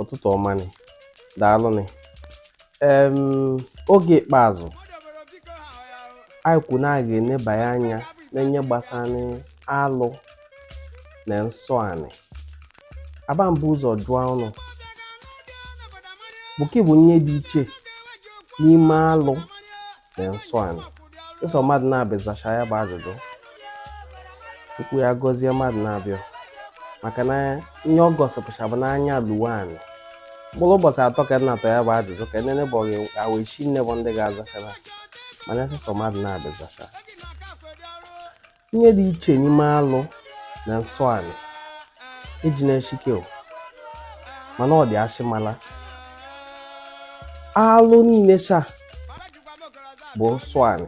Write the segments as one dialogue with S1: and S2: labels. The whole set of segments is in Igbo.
S1: ụtụtụ ọma nị daalụ nị em oge ikpeazụ anyị kwu na a ga-enebanye anya na nye gbasara alụ na nsọ anị aba m bu ụzọ jụọ ụnụ bụ kị bụ nye dị iche n'ime alụ na nsọ anị ịsọ mmadụ nabị zacha ya bụ ajụjụ Chukwu ya gọzie mmadụ nabị a maka na ihe ọ gosipụcha bụ na anya lu we anị mkpụrụ ụbọchị atọ ka na-atọ ya bụ ajụjụ ka nene bụ awa isi nne bụ ndị ga-azachara mana ịsọ mmadụ nabị zacha Nye dị iche n'ime alụ na nsọ anị eji na-eshike o, mana ọ dị ashịmala. Alụ niile sha bụ nsọ anị,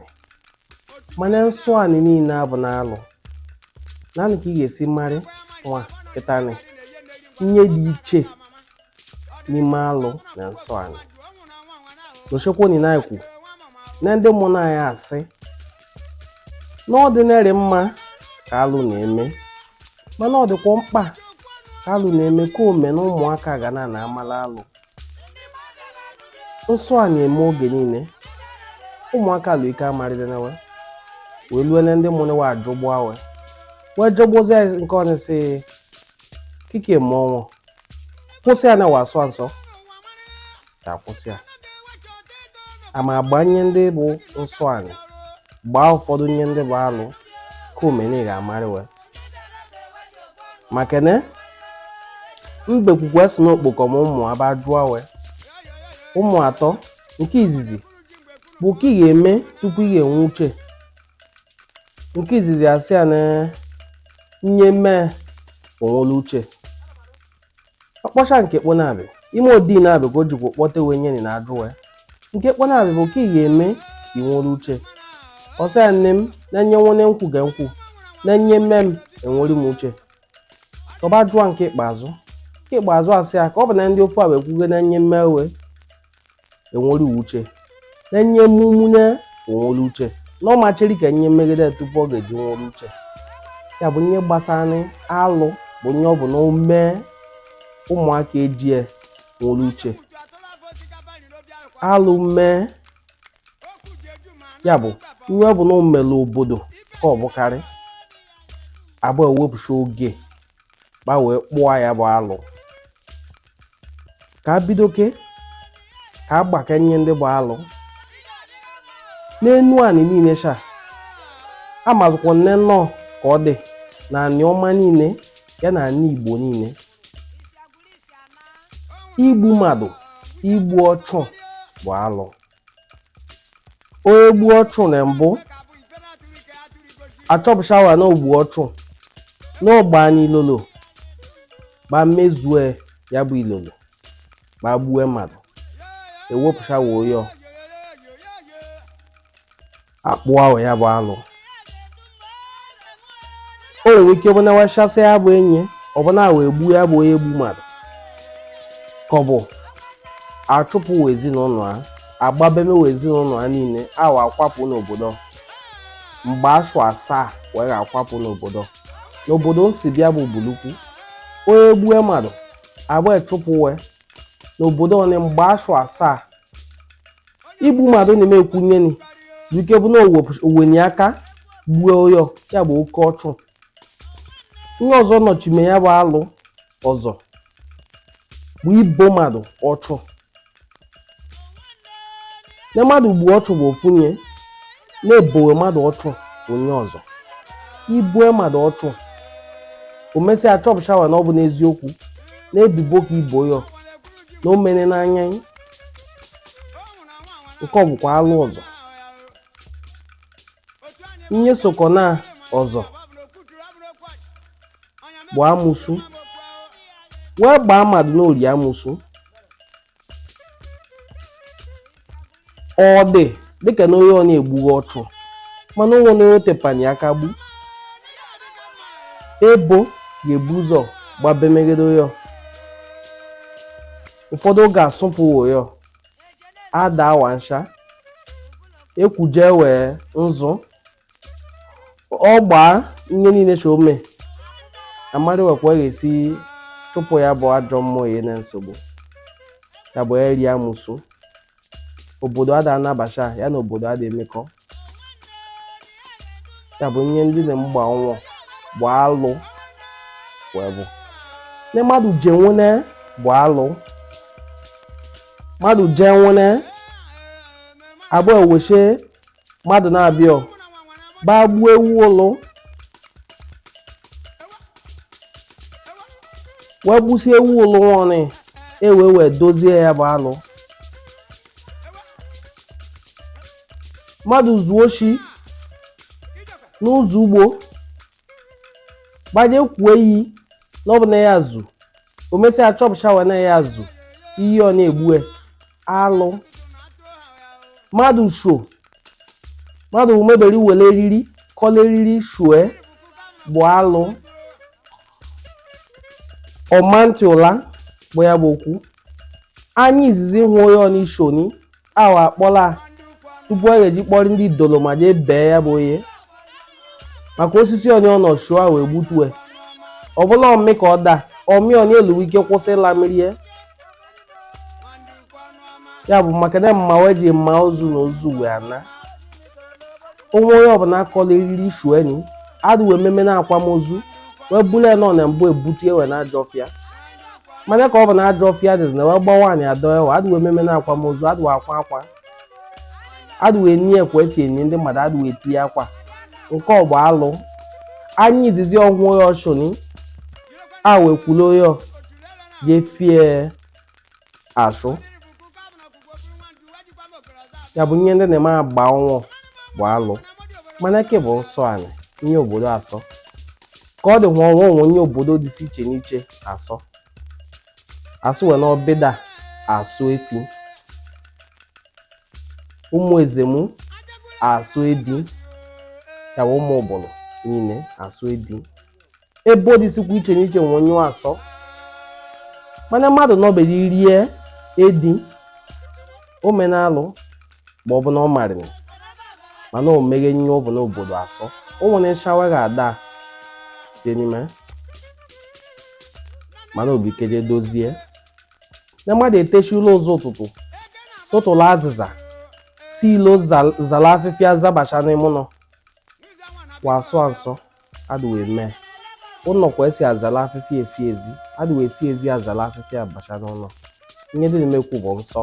S1: mana nsọ anị niile abụna alụ. Naanị ka ị ga-esi marị wa kịtanị nye dị iche. n'ime alụ na nsọ anị dochekwoni na-ekwu na ndị mụna anyị asị na ọ dịnarị mma ka alụ na-eme mana ọ dịkwa mkpa ka alụ na-eme ka o me na ụmụaka ga na na-amala alụ nsọ anị eme oge niile ụmụaka lụ ike amarịdena we wee lue na ndị mụ wa ajụgbua we wee jọgbozi nke ọnịsị kike mmụọ kwụsị ya na wa sọ nsọ ka kwụsị ya ama agba nye ndị bụ nsọ anị gbaa ụfọdụ nye ndị bụ alụ ka o me nị ga-amarị we maka na mbekwu kwe sị na ọ kpọkọ ụmụ a ba jụọ we ụmụ atọ nke izizi bụ kị ga-eme tupu ị ga-enwe uche nke izizi asị ya na nye mee o nwere uche ọ kpọcha nke kponabị ime odi nabị ka o jikwa kpọta we nye na-ajụ we nke kponabị bụ kị ga-eme ka ị nwere uche ọ sị ya nne m na nye nwone m kwu ka m kwu na nye mee m enwere m uche ọ ba jụọ nke ikpeazụ nke ikpeazụ asị ya ka ọ bụ na ndị ofu a wee kwugo na nye mee we enwere uche na nye mụmụnye o nwere uche na ọ ma cheri ka nye megide tupu ọ ga-eji nwere uche ya bụ nye gbasara alụ bụ nye ọ bụ na o me ụmụaka ejie nwere uche alụ mee ya bụ ihe ọ bụ na o mere obodo ka ọ bụkarị abụọ ewepụcha oge gba wee kpụa ya bụ alụ ka bidoke ka agbakanye ndị bụ alụ n'enuanị niile sha amazụkwa nne nnọọ ka ọ dị na anịọma niile ya na anị igbo niile igbu mmadụ igbu ọchụ bụ alụ onye gbuo ọchụ na mbụ achọpụchawa na o gbu ọchụ na ọ gbani ilolo gba mezue ya bụ ilolo gba gbue mmadụ ewepụchawa oyo akpụa wa ya bụ alụ o nwere ike ọ bụ na wachasị ya bụ onye ọ bụ na wa egbuo ya bụ onye gbu mmadụ ka ọ bụ achụpụ wa ezinụlọ ha agbabemewa ezinụlọ ha niile awa akwapụ n'obodo mgbe asụ asaa wee akwapụ n'obodo n'obodo m si bịa bụ ubulu uku onye gbue mmadụ agba chụpụ wee n'obodo ọnị mgbe asụ asaa igbu mmadụ na emekwunyeni dike bụ na owenye aka gbuo oyo ya bụ oke ọchụ ihe ọzọ nọchime ya bụ alụ ọzọ bụ ibo mmadụ ọchụ na mmadụ gbuo ọchụ bụ ofu nye na-ebowe mmadụ ọchụ onye ọzọ i bo mmadụ ọchụ o mesịa achọpụchawa na ọ bụ n'eziokwu na ebibo ka i bo ya na o mere n'anya nke ọ bụkwa alụ ọzọ nye sokọ na ọzọ bụ amụsụ wee gbaa mmadụ n'ori amụsụ ọ dị dịka na onye ọ na-egbughị ọchụ mana o nwe na o tepanye aka gbu ebo ga-ebu ụzọ gbabemegide ya ụfọdụ ga-asụpụ oyo ada wansha ekwuje wee nzụ ọ gbaa ihe niile so ome amarị wekwa ga-esi chụpụ ya bụ ajọ mmụọ ihe na-esogbu ya bụ eri amụsụ obodo ada anabacha ya na obodo ada emekọ ya bụ ihe ndị na mgba ọnwụ bụ alụ wee bụ ne mmadụ je nwune bụ alụ mmadụ je nwune abụọ eweshe mmadụ na-abịa gbaa gbuo ewu ụlụ wee gbusie ewu ụlụ ọnụ e wee wee dozie ya bụ alụ mmadụ zuo oshi n'ụzọ ugbo gbaje kwuo iyi na ọ bụ na ya zu o mesịa chọpụsha wee na ya zu iyi ọ na-egbue alụ mmadụ sho mmadụ mebere were eriri kọla eriri shue bụ alụ ọmantị ụla bụ ya bụ okwu anyị izizi hụ onye ọ n'ishoni ahụ akpọla tupu a ga-eji kpọrọ ndị idolo ma jee bee ya bụ onye maka osisi onye ọ nọ shue wee gbutue ọ bụrụ ọmị ka ọ daa ọmị onye eluwe ike kwụsị ịla mmiri ya ya bụ maka na mma wee ji mma ozu na ozu wee ana o nwe onye ọbụla kọla eriri shue nị adịwe ememe na akwamozu wee bụrụ nọ na mbụ ebutu ewe na ajọ ọfịa mana ka ọ bụ na ajọ ọfịa adịzi na wee bọwa anị adọwe adịwe ememe na akwamozu adịwe akwa akwa adịwe eni ka e si eni ndị mmadụ adịwe etinye akwa nke ọ bụ alụ anyị izizi ọhụụ ya ọchụni a wee kwulu ya jefie asụ ya bụ ihe ndị na-eme agba ọnwụ bụ alụ mana nke bụ nsọ anị ihe obodo asọ ka ọ dị nwa ọnwa o nwe ihe obodo dị iche n'iche asọ asụ wee n'ọbịda asọ efi ụmụ ezemu asọ edi ya bụ ụmụ ubulu niile asọ edi obodo dịsịkwa iche n'iche nwe ihe ọ asọ mana mmadụ nọbere rie edi o mene alụ ma ọ bụ na ọ marịrị mana o meghe ihe ọ bụ n'obodo asọ o nwere nsha wa ga-ada dị n'ime mana obi keje dozie na mmadụ etesi ụla ụzọ ụtụtụ tụtụlụ azịza si ilo zal- zala afịfịa zabacha n'ime ụlọ wa asọ asọ adịwa eme ụlọ ka esi azala afịfịa esi ezi adịwa esi ezi azala afịfịa abacha n'ụlọ ihe dị na-emekwu bụ nsọ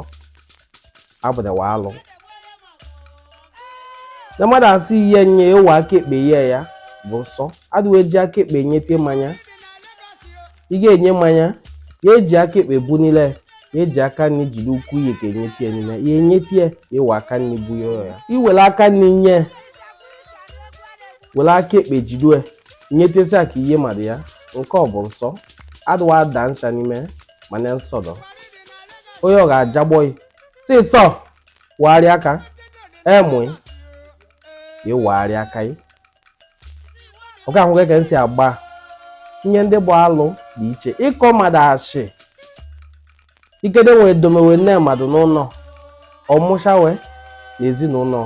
S1: abụdawa alụ na mmadụ asị ihe nye ewe aka ekpe ihe ya bụ nsọ adịwa eji aka ekpe nyete mmanya ị ga-enye mmanya ya eji aka ekpe bu niile ya eji aka nri jiri ukwu ihe ka enyetie niile ya enyetie ya ewe aka nri bu ya ya iwere aka nri nye were aka ekpe jide nyetesi aka nye mmadụ ya nke ọ bụ nsọ adịwa ada nsha n'ime mana nsọ dọ onye ọ ga-ajagbọ ị sị sọ wagharị aka emụ ya wagharị aka ya ọ ga-ahụ ka e si agba ihe ndị bụ alụ dị iche ịkọ mmadụ ashị Ikede nwe domewe nne mmadụ n'ụlọ ọmụchawe na ezinụlọ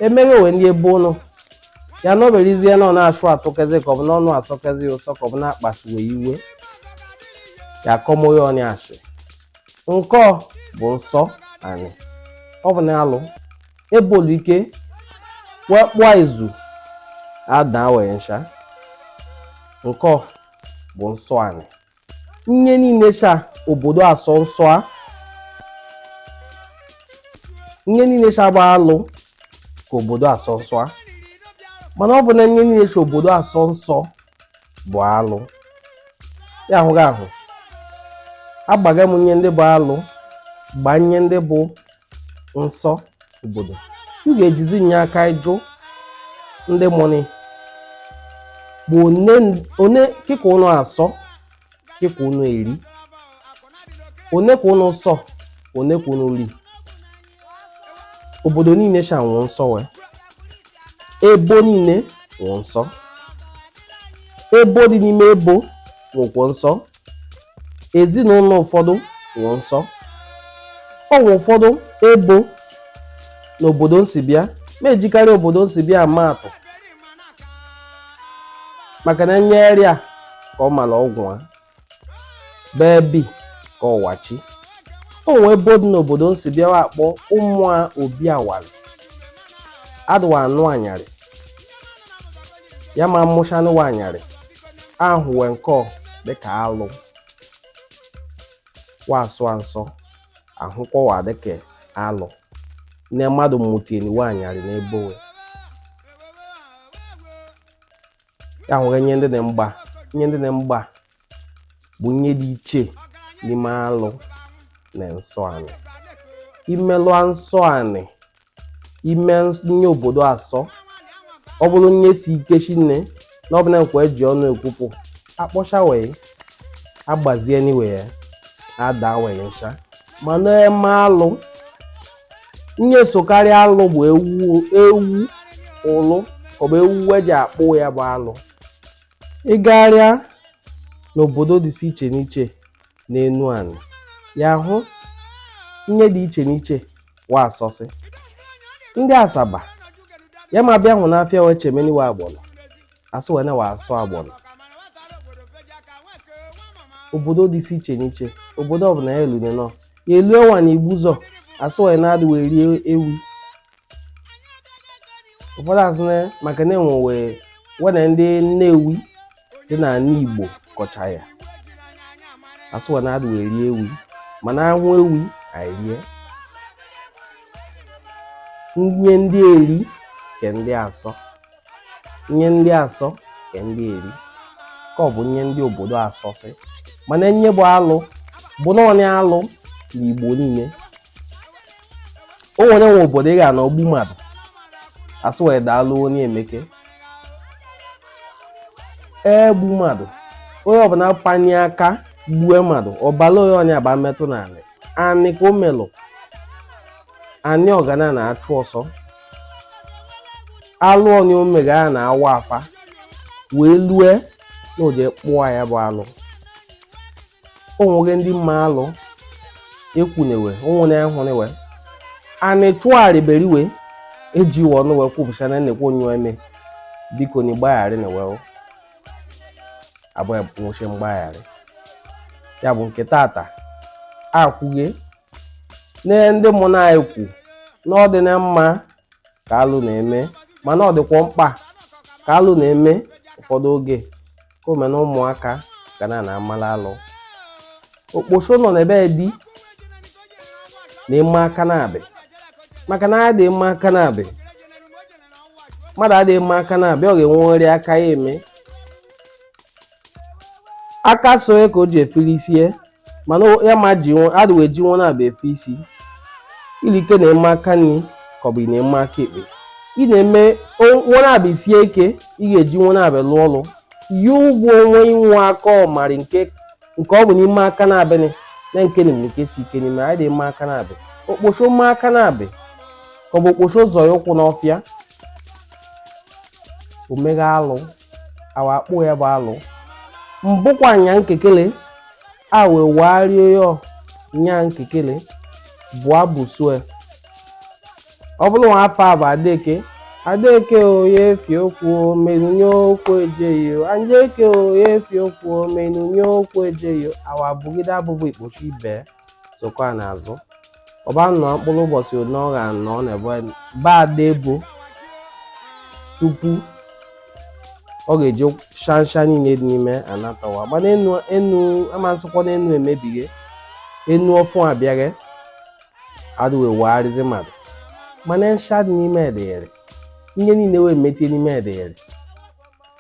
S1: emeghewe ndị ebe ụnọ ya na oberizie na ọ na-achụ atụkezi ka ọ bụ n'ọnụ asọkezi ụsọ ka ọ bụ na-akpasu wa iwe ya akọmoye ọnya achị nke ọ bụ nsọ anị ọ bụ na alụ ebolu ike wee kpụọ izu ada we nsha nke ọ bụ nsọ anị nye niile cha obodo asọ nsọ a nye niile cha bụ alụ ka obodo asọ nsọ a mana ọ bụ na nye niile cha obodo asọ nsọ bụ alụ ya ahụghị ahụ agbaga m nye ndị bụ alụ gba nye ndị bụ nsọ obodo ị ga-ejizi nye aka ịjụ ndị mụnị bụ one kị ka ụnụ asọ kị ka ụnụ eri one ka ụnụ sọ one ka ụnụ ri obodo niile sha nwe nsọ we ebo niile nwe nsọ ebo dị n'ime ebo nwekwọ nsọ ezinụlọ ụfọdụ nwe nsọ o nwe ụfọdụ ebo na obodo nsi bịa m ejikarị obodo nsi bịa ama atụ maka na nye e rịa ka ọ mara ọgwụ a ebe e bi ka ọ wachi o nwee ebo dị n'obodo nsi bịa wa akpọ ụmụ a obi awali adụ wa anụ anyarị ya ma mụchanụ nwa anyarị ahụ we nke dịka alụ wa asọ nsọ ahụkwa wa dịka alụ nne mmadụ mụteni nwa anyarị n'ebe we ya nwere nye ndị na mgba nye ndị na mgba bụ nye dị iche n'ime alụ na nsọ anị imelụ nsọ anị ime nye obodo asọ ọ bụrụ nye si ike shinne na ọ bụla nkwa eji ọnụ ekwupụ akpọcha we agbazieni we ya ada we nsha mana eme alụ nye sokarị alụ bụ ewu ụlụ ọ bụ ewu wa ji akpụ ya bụ alụ ị gagharịa n'obodo dịsị iche n'iche n'enu anị ya ahụ nye dị iche n'iche wa asọsị ndị Asaba ya ma bịa hụ n'afịa wee chemeni wa agbọnọ asị we na wa asọ agbọnọ obodo dịsị iche n'iche obodo ọbụla ya elune nọ ya elue nwa na Igbuzọ asị we na adị we eri ewi ụfọdụ asị na maka na enwewe wena ndị nnewi dị na anị igbo kọcha ya asụwa na adụ eri ewi mana ahụ ewi anyị rie nye ndị eri ke ndị asọ nye ndị asọ ke ndị eri ka ọ bụ nye ndị obodo asọsị mana nye bụ alụ bụ naanị alụ na igbo niile o nwere nwe obodo ị ga-anọ gbu mmadụ asụ wee daalụ onye emeke egbu mmadụ onye ọbụla panye aka gbue mmadụ ọbala onye ọnya ba metụ n'anị anị ka o melụ anị ọ gana na-achụ ọsọ alụ onye o mega ya na awa afa wee lue na oje kpụọ ya bụ alụ o nwere ndị me alụ ekwunewe onwere ya hụrịwe anị chụgharịberiwe eji ọnụ wee kwupụcha na nnekwu onye eme biko na ịgbagharị na wee abụghị nwụchi mgbagharị ya bụ nke tata akwụghe n'ihe ndị mụ na anyị kwu na ọ dị na mma ka alụ na-eme mana ọ dịkwa mkpa ka alụ na-eme ụfọdụ oge ka o mee na ụmụaka ga na na-amala alụ okposo nọ n'ebe di na ime aka nabị maka na adịghị eme aka nabị mmadụ adịghị eme aka nabị ọ ga-enwerị aka ya eme aka so ya ka o ji efili isi ya mana o- ya ma ji nwe adịghị eji nwe nabị efe isi ilike na-eme aka nri ka ọ bụ ị na-eme aka ekpe ị na-eme o- nwe nabị sie ike ị ga-eji nwe nabị lụọ ọlụ yi ụgwọ onwe inwe aka ọmarị nke nke ọ bụ na ime aka nabị anị na nke na nke si ike n'ime anyị na-eme aka nabị okposo me aka nabị ka ọ bụ okposo zọ ya ụkwụ n'ọfịa o mega alụ awa akpụ ya bụ alụ mbụkwa nya nkekele awe wario yo nya nkekele bụ abụ sue ọ bụrụ nwa afọ abụ adeke adeke oye efi okwu omenunye okwu ejeghị o anjeke oye efi okwu omenunye okwu ejeghị o awa bụgide abụbụ ikposo ibe sokwa n'azụ ọ ba nọ mkpụrụ ụbọchị one ọ ga anọ n'ebe anyị ba ada ebo tupu ọ ga-eji shansha niile dị n'ime anatawa mana enu enu amasịkwa na enu emebighe enu ọfụ abịaghe adịwe wegharịzi mmadụ mana nsha dị n'ime edeghere ihe niile wee mechie n'ime edeghere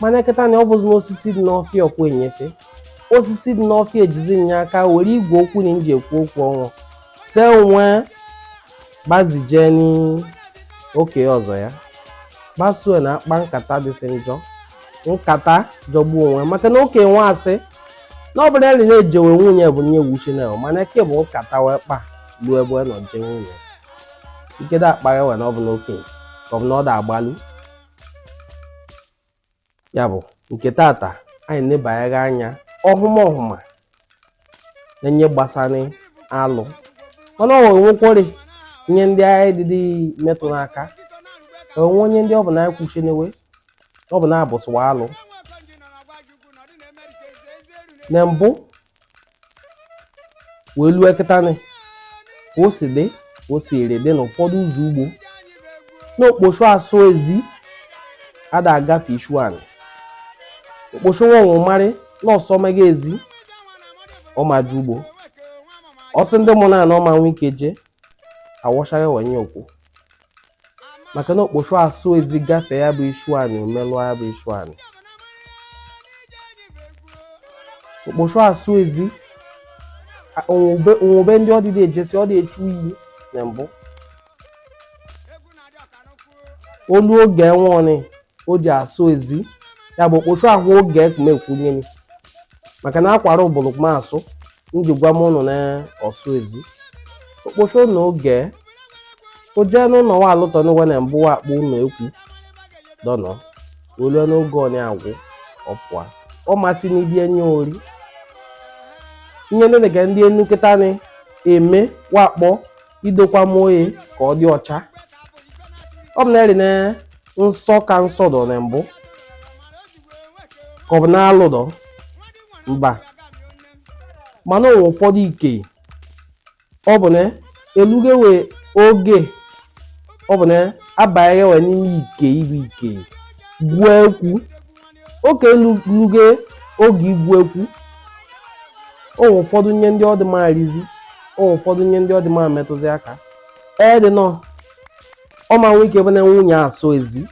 S1: mana kịta na ọ bụzi n'osisi dị n'ọfịa ọkwa enyefe osisi dị n'ọfịa ejizi nye aka were igwe okwu na nji ekwu okwu ọnwụ se onwe gbazije n'oke ọzọ ya gbasuo na akpa nkata dịsị njọ nkata jọgbu onwe maka na oke nwa asị na ọ bụla ya na-ejewe nwunye bụ nye wuchi na mana eke bụ nkata wee kpa ruo ebe ọ nọ jee nwunye ikedo akpagha wee na ọ bụ n'okenye ka ọ bụ na ọ da agbalu ya bụ nke tata anyị nebanyere anya ọhụma ọhụma na enye gbasara alụ mana o nwere nwekwere ihe ndị anyị dịdị metụ n'aka o nwe enye ndị ọ bụ na anyị kwuchinewe ọ bụ na-abụsịwa alụ na mbụ wee lue kịtanị ka o si dị ka o si ere dị na ụfọdụ ụzọ ugbo na okpochu asụ ezi ada agafe ishu anị okpochu nwe onwe marị na ọ sọ mega ezi ọ ma eje ugbo ọ sị ndị mụ na na ọ ma nwe ike jee awọchaghị wenye okwu maka na okpochu asụ ezi gafee ya bụ ishu anị o melụọ ya bụ ishu anị okpochu asụ ezi a- o nwe ebe ndị ọ dịdị ejesi ọ dị echu iyi na mbụ o lue oge nwụọnị o ji asụ ezi ya bụ okpochu ahụ oge ekpumekwunyeni maka na akwara ụbụlụkma asụ nji gwa m ụnụ na ọ sụ ezi okpochu ụnụ oge o jee n'ụlọ nwa alụtọ n'ụwa na mbụ wa akpọ ụlọ ekwu dọnọ o lue n'oge ọ na-agwụ ọ pụa ọ masị n'ibi enye ori ihe dịka ndị enu kịta na-eme wa akpọ idokwa m oye ka ọ dị ọcha ọ bụ na eri na nsọ ka nsọ dọ na mbụ ka ọ bụ na alụ dọ mba mana o nwe ụfọdụ ike ọ bụ na eluge wee oge ọ bụ na abanye wee n'ime ike ibu ike gwuo ekwu oke eluge oge igwu ekwu o nwe ụfọdụ nye ndị ọ dị ma arizi o nwe ụfọdụ nye ndị ọ dị ma metụzi aka ee dị nọ ọ ma nwe ike bụ na nwunye asọ ezi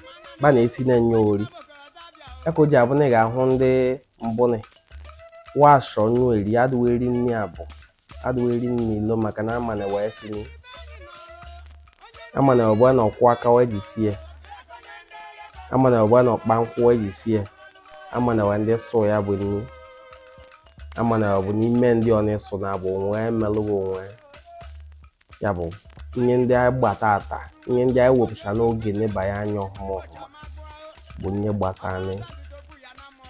S1: ba na-esi na enye ori ya ka o ji abụ na ị ga-ahụ ndị mbụnị wa sọ nnu eri adịghị eri nri abụ adịghị eri nri ilo maka na amana wee si ni amana ọ bụ na ọkwụ aka wee ji sie amana ọ bụ na ọkpa nkwụ wee ji sie amana wee ndị sụ ya bụ nri amana ọ bụ n'ime ndị ọ na-eso na abụ onwe melụghị onwe ya bụ ihe ndị anyị gbata ata ihe ndị anyị wepụcha n'oge nebanye anya ọhụma ọhụma bụ ihe gbasara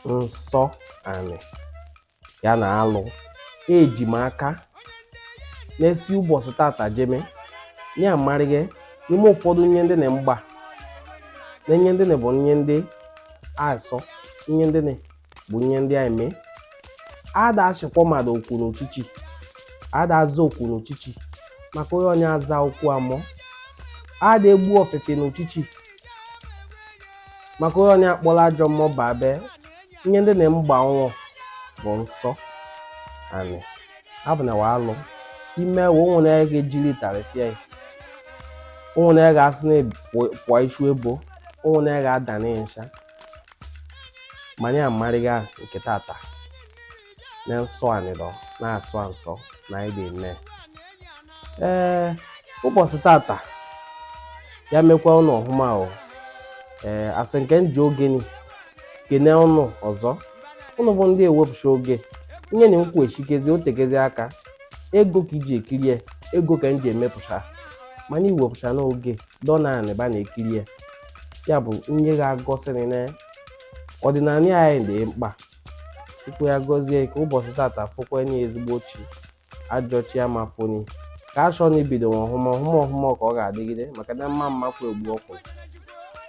S1: nsọ anị ya na alụ eji m aka na e si ụbọchị tata jeme ya amarịga n'ime ụfọdụ ihe ndị na mgba na ihe ndị na bụ ihe ndị a sọ ihe ndị na bụ ihe ndị anyị mee a da echikwa mmadụ oku n'uchichi a da aza oku n'uchichi maka onye onye aza oku mmụọ a da egbu ọfịfị n'uchichi maka onye onye akpọrọ ajọ mmụọ babe ihe ndị na mgba nwụọ bụ nsọ anị abụ na alụ i mewe o nwe na ga-ejiri tarịpịa ya o nwe na ga-asị na pụọ ichu ebo o nwe na ga-ada na ịnsha manya amarịga nke tata na nsọ anị dọ na-asọ nsọ na ịdị nne ee ụbọchị tata ya mekwa ụnụ ọhụma o ee a sị ka m ji oge nị kene ụnụ ọzọ ụnụ bụ ndị wepụcha oge ihe na m kwu echikezi o tekezi aka ego ka i ji ekiri e ego ka m ji emepụcha mana iwepụcha n'oge dọ naanị ebe a na-ekiri ya ya bụ ihe ga-egosi nị na ọdịnanị anyị dị mkpa chukwu ya gọzie ka ụbọchị tata fokwa nye ezigbo chi ajọ chi ama fo nị ka a chọọ na ibido nwa ọhụma ọhụma ọhụma ka ọ ga-adịgide maka na mma mma kwa egbu ọkụ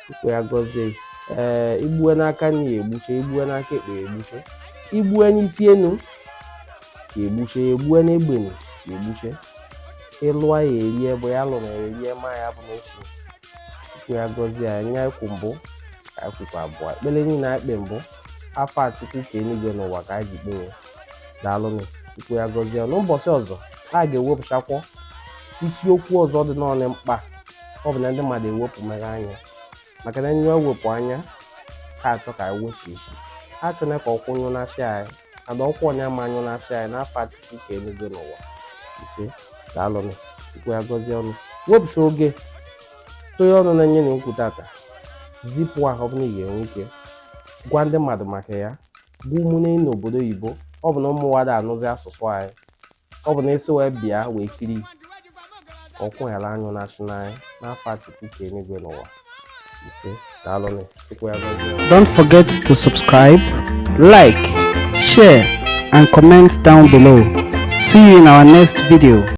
S1: chukwu ya gọzie ee i gbue n'aka nni ya egbuche i gbue n'aka ekpe ya egbuche i gbue n'isi enu ya egbuche ya egbue n'egbenu ya egbuche ị lụa ya erie bụ ya lụrụ ya erie ma ya bụ n'otu chukwu ya gọzie ya nye ekwu mbụ ka ekwukwa abụọ ekpere niile e kpe mbụ afọ a chukwu ke eluigwe na ụwa ka anyị ji kpewe daalụnụ chukwu ya gọzie ya n'ụbọchị ọzọ a ga-ewepụchakwọ isiokwu ọzọ dị nnọọ mkpa ọ bụ na ndị mmadụ ewepụ mere anya maka na anyị ewepụ anya ha achọ ka anyị wepụ isi ha achọla ka ọkụ nyụ na chi anyị and ọkụ onye ama anyụ na chi anyị n'afọ a chukwu ke eluigwe na ụwa ise daalụnụ chukwu ya gọzie ụnụ wepụcha oge tụnye ọnụ na ihe na-ekwu tata zipụ ahụ ọ bụla ị ga-enwe ike gwa ndị mmadụ maka ya bụ ụmụnne n'obodo oyibo ọ bụ na ụmụ wa ada anụzi asụsụ anyị ọ bụ na e si wee bịa wee kiri ọkụ ghara anyụ na chi anyị n'afọ a chukwu ke enigwe na ụwa ise daalụnụ chukwu ya gọzie Don't forget
S2: to subscribe, like, share, and comment down below. See you in our next video.